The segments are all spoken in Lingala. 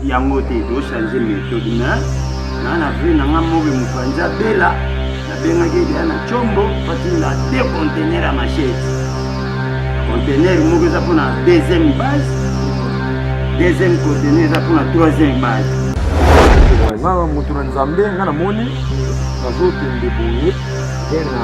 yango te to changer methode na na na vie na nga mobe mupanza bela na benga ke dia na chombo pati la te conteneur à machette conteneur moko eza pona deuxième base deuxième conteneur eza pona troisième base nga moto na nzambe nga namoni nazokende boye te na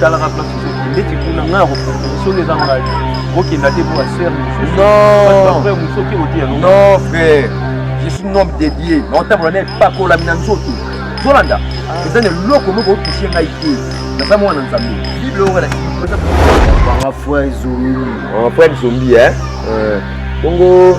talaka place ozoki ndeti kuna ngai akopropose soki eza ngai okenda te mpo basere mosusuapre mosoki otiya non frère je suis un homme dédié naotambola na epakolami na nzoto zolanda ah. eza na eloko moko otouche ngai te naza mwana nzambe bible oyo elakisi banga frère zombi banga frère zombi eh? eh. bongo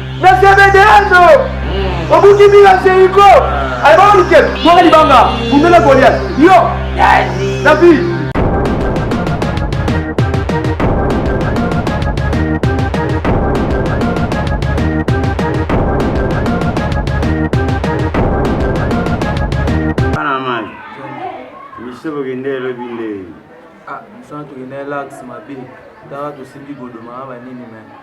na zebedeano obuki mbila zeriko albaolike mwaka libanga bundela goliat yo david biso bokende elobi nde ah, biso tokende lax mabe tala tosimbi godomaka banini me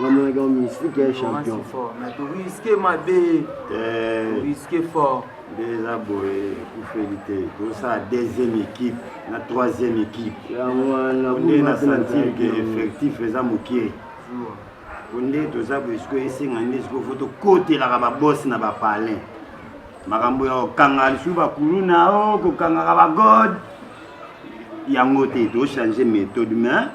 nga mona ka mystique ya champion mais to risque mabe eh risque fort eza boye ekufeli te tosala deuxième équipe na troisième équipe nde na sentir ke effectif eza mokie po nde toza boye sikoyo esenga nde sikoyo fo tokotelaka babosi na bapalin makambo ya kokanga lisusu bakuluna o kokangaka bagode yango te to changer méthode mais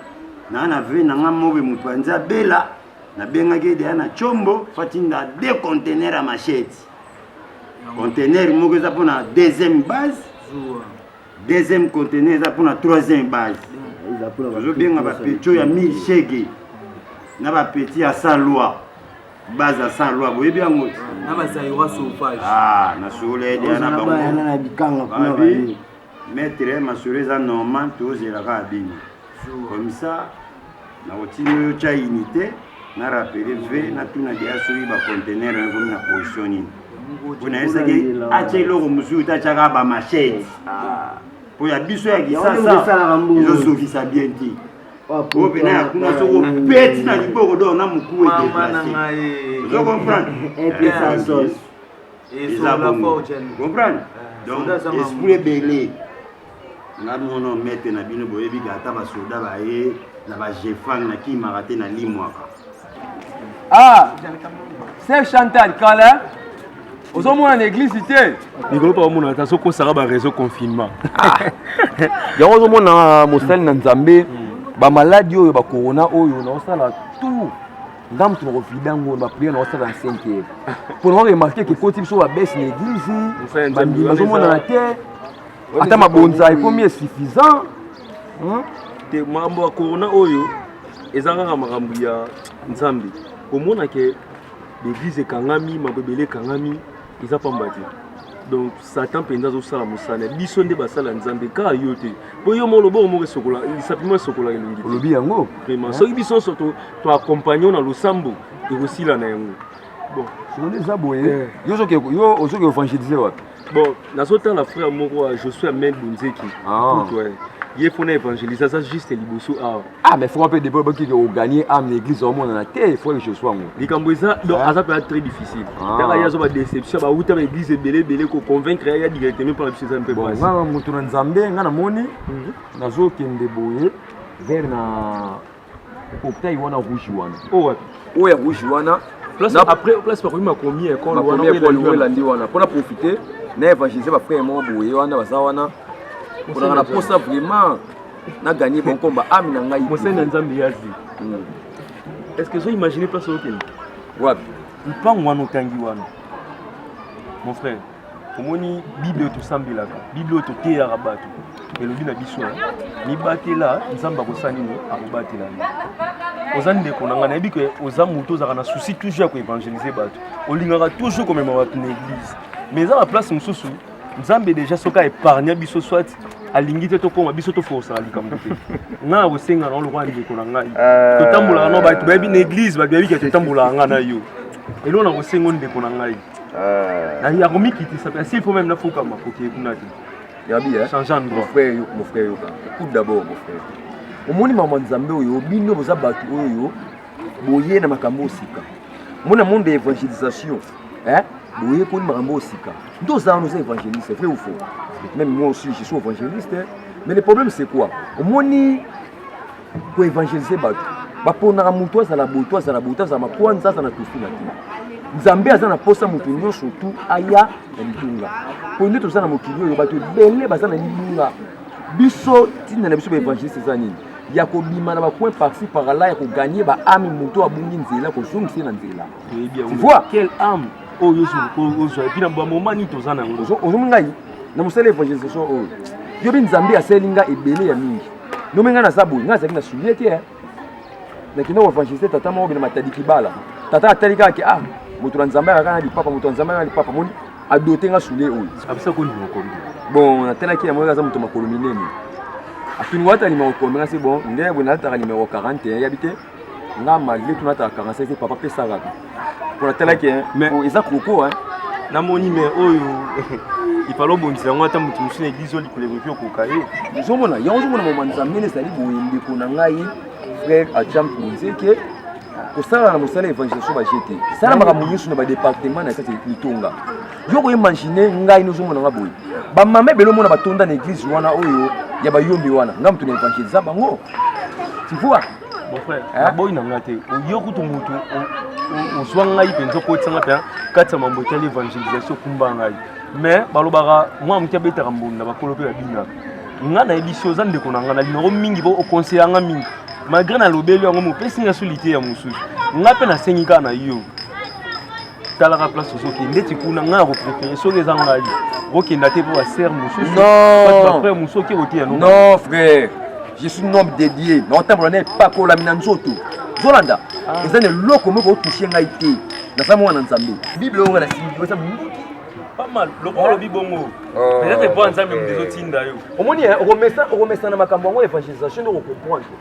na na vie na nga mobe moto anza bela na bengaki deya na chombo fatinda deux conteneurs ya machete conteneur moko eza mpona deuxième base deuxième conteneur eza mpona troisième base tozobenga bapetio ya mille shege na bapeti ya sans loi base ya sans loi boyebi yango na basaiwa sauvage ah, na sukula ye deya na bango Maitre masolo eza normal tozela kaka bino comme ça nakotinda yo tya unité na rappele ve natuna deya soki bacontener yango ekomi na position nini mpo nayesaki atya eloko mosusu te atyaka bamachete mpo ya biso ya kisasa ezosukisa bien te oyo mpena ya kuna soko peti na liboko do na mokuwa edeplase ozo comprendre eza bongo comprendre donc esprit ebele nga mono mete na bino boyebi ka ata basoda baye na bajefang na kimaka te na limwaka ah sef chantal kala ozomona na eglise te mikolo mpa omona ata sokosaka bareseau confinement ah. yango ozomona mosali na nzambe bamaladi oyo bakorona oyo naosala tout nga moto na kovida ngo na priere na osala na senke mpo na koremarke ke koti biso babese na eglize bandimi bazomonana te ata mabonza ekomi esuffisant hmm? te makambo ya corona oyo eza kaka makambo ya nzambe komona ke l'église ekangami makambo ebele ekangami eza pamba te donc satan mpenza azosala mosala biso nde basala ya nzambe kaka yo te mpo yo moko loboko moko esokola lisapi moko esokola elongi olobi yango vraiment soki biso nyonso toaccompagne na losambo ekosila na yango bon sikoyo eza boye eh. yo ozoki évangélise wapi bon nazotala frère moko josué amel bonzeki ah. ye mpo na évangélise aza juste liboso awa Ah mais franc pe depuis ba kiki au gagner âme l'église au monde na te faut que je sois ngo. Likambo eza donc aza pe très difficile. Tanga yazo ba déception ba wuta ba église ebele ebele ko convaincre ya directement par biso eza mpe basi. Nga mutu na Nzambe nga na moni mhm. nazo kende boye vers na hôpital wana rouge wana. Oh wapi? Oyo ya rouge wana place après place ba koyima komi ekolo wana oyo elandi wana pona profiter na évangéliser ba frère moko boye wana baza wana. Kozalaka na posa vraiment na gagner bon combat âme na ngai mosali ya nzambe yazi hmm. est ce que ozo imaginer place okende wapi mpango wana otangi wana mon frère omoni bible oyo tosambelaka bible oyo toteyaka bato elobi na biso mibatela nzambe akosala nini akobatela yo oza ndeko na ngai nayebi ke oza moto ozalaka na souci toujours ya koevangelize bato olingaka toujours komema bato na église mais eza na place mosusu nzambe deja soki aepargna biso soit alingi te tokoma biso toforosaka likambo te nga na kosenga na lokola ndeko na ngai euh. totambolaka na bato bayebi na église bato bayebi ke totambolaka nga na yo eloo na kosenga ndeko na ngai euh. ya komikitisa mpe asi fo meme nafukama kokee kuna te yabi eh? change endroit mon frère yoka écoute d'abord mon frère omoni mama nzambe oyo bino boza bato oyo boye na makambo osika mona monde ya évangélisation Hein? Boye koni makambo oyo sika. Ndio za nous évangéliste, vrai ou faux? Même moi aussi je suis évangéliste, hein? mais le problème c'est quoi? Omoni ko évangéliser bato. Baponaka moto azala boto, azala boto, azala makwanza, azala tofi na te. Nzambe aza na posa moto nyonso tu aya na litunga. Po nde toza na mokili oyo bato ebele baza na litunga. Biso ntina na biso ba évangéliste eza nini? ya kobima na bacoin parci par là ya koganye baami moto abungi nzela kozongisa ye na nzela ozomi ngai na mosala ya evangelisation oyo yo mpe nzambe asali nga ebele ya mingi nomi ngai naza boye ngai azalaki na sulie te eh. nakenda koevangelise tata moko bina matadi kibala tata atali kaka ke ah moto na nzambe akaka na lipapa moto na nzambe akaka na lipapa moni adote nga sulie oyo bon natalaki yango aza moto makolo minene atuni wata nimero komi ngasi bon nde boye nalataka nimero 40 yabi te nga malgré tout natala kanga sese papa pe salaka mpo natalaki eza koko namoni me oyo ifalo obongisa yango ata moto mosusu na eglise oyo likolo ekoki okoka ye ozomona yango ozomona mama nzambe nde ezali boye ndeko na ngai frère acham nzeke kosala na mosala ya evangelisation baje te sala makambo nyonso na badepartement na kati litonga yo koimagine ngai nozomona nga boye bamama ebele omona batonda na eglise wana oyo ya bayombi wana nga moto na evangelisa bango tu vois Mon frère, hein? boy na nga te. Yo kutu mutu ozwa ngai mpenza okotisa ngai mpenza kati ya mambo etali évangélisation kumba ngai mais balobaka mwana moke abetaka mbunda bakolo mpe babinaka nga nayebisi oza ndeko na nga na linango mingi po oconseya nga mingi malgré nalobeli yango mopesi nga so liteya mosusu nga mpe nasengi kaka na yo talaka place ozokende ndeti kuna ngai ako préféré soki eza ngai okenda te mpo basere mosusu bafrère mosusu oke koteya non frère je suis nom dédié naotambola na epakolami na nzoto zolanda ah. eza na eloko moko otouche ngai te naza mwana nzambe bible oyo nga nasimbieza pamal lokola olobi bongo oh. peut-être mpo nzambe moto ezotinda yo omoni eh, okomesana makambo yango évangélisation nde okokomprendre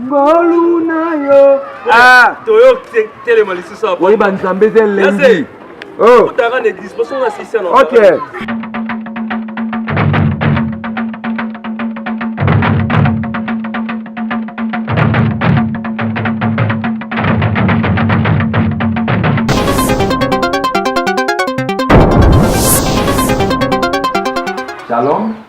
ngolu na yo ah toyo telema lisusu apo oyeba nzambe eze elengi oh otaka na eglise poso nga sisi na ok Shalom.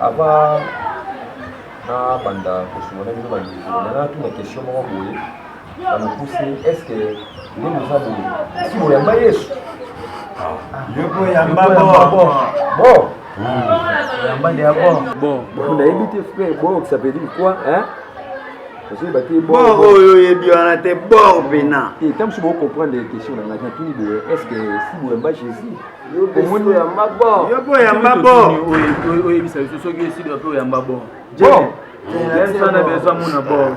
Avant nabanda kosunga na bino bandeko nana tuna question moko boye na mokuse est ce que nde boza boye si boyamba yesu nayebi te frère bor ça veut dire quoi hein oyo oyebi wana te bor pena ntango mosusu bocomprendre question na ngai natuni boye est ce que si boyamba jésus omoni oyamba bo yo mpe oyamba bo oyebisa biso soki esili yo mpe oyamba bo yesana bezwa mona bo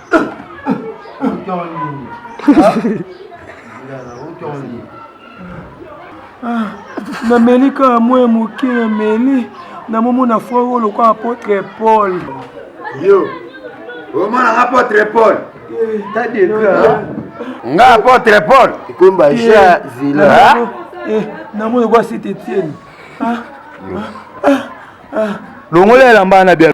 Ah, nameli kaka mwe moke emeli namomona foi oyo lokola apotre paul yo omonaka apotre paul nga apotre paul ekomba ja zila namoni kwa site etienne longola elamba na bia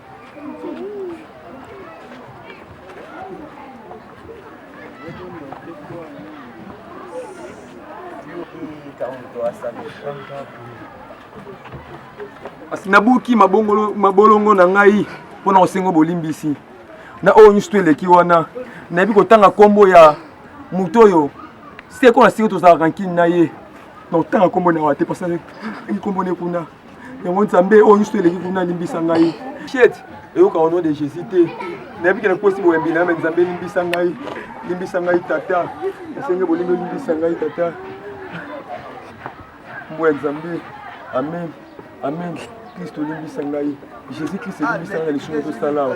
kasi nabuki mabolongo na ngai mpo na kosengo bolimbisi na oyo nyonso to eleki wana nayebi kotanga nkombo ya moto oyo seko na seko tozalaka nkini na ye na kotanga nkombo na wa te pasaki nkombo ne kuna yango nzambe oyo nyonso eleki kuna limbisa ngai piete eyoka au nom de jésus te nayebi ke nakosi boyambi na yo me nzambe limbisa ngai limbisa ngai tata esenge bolingo limbisa ngai tata mbo ya nzambe amen amen kristo limbisa ngai jésus kristo limbisa ngai na lisumu tosala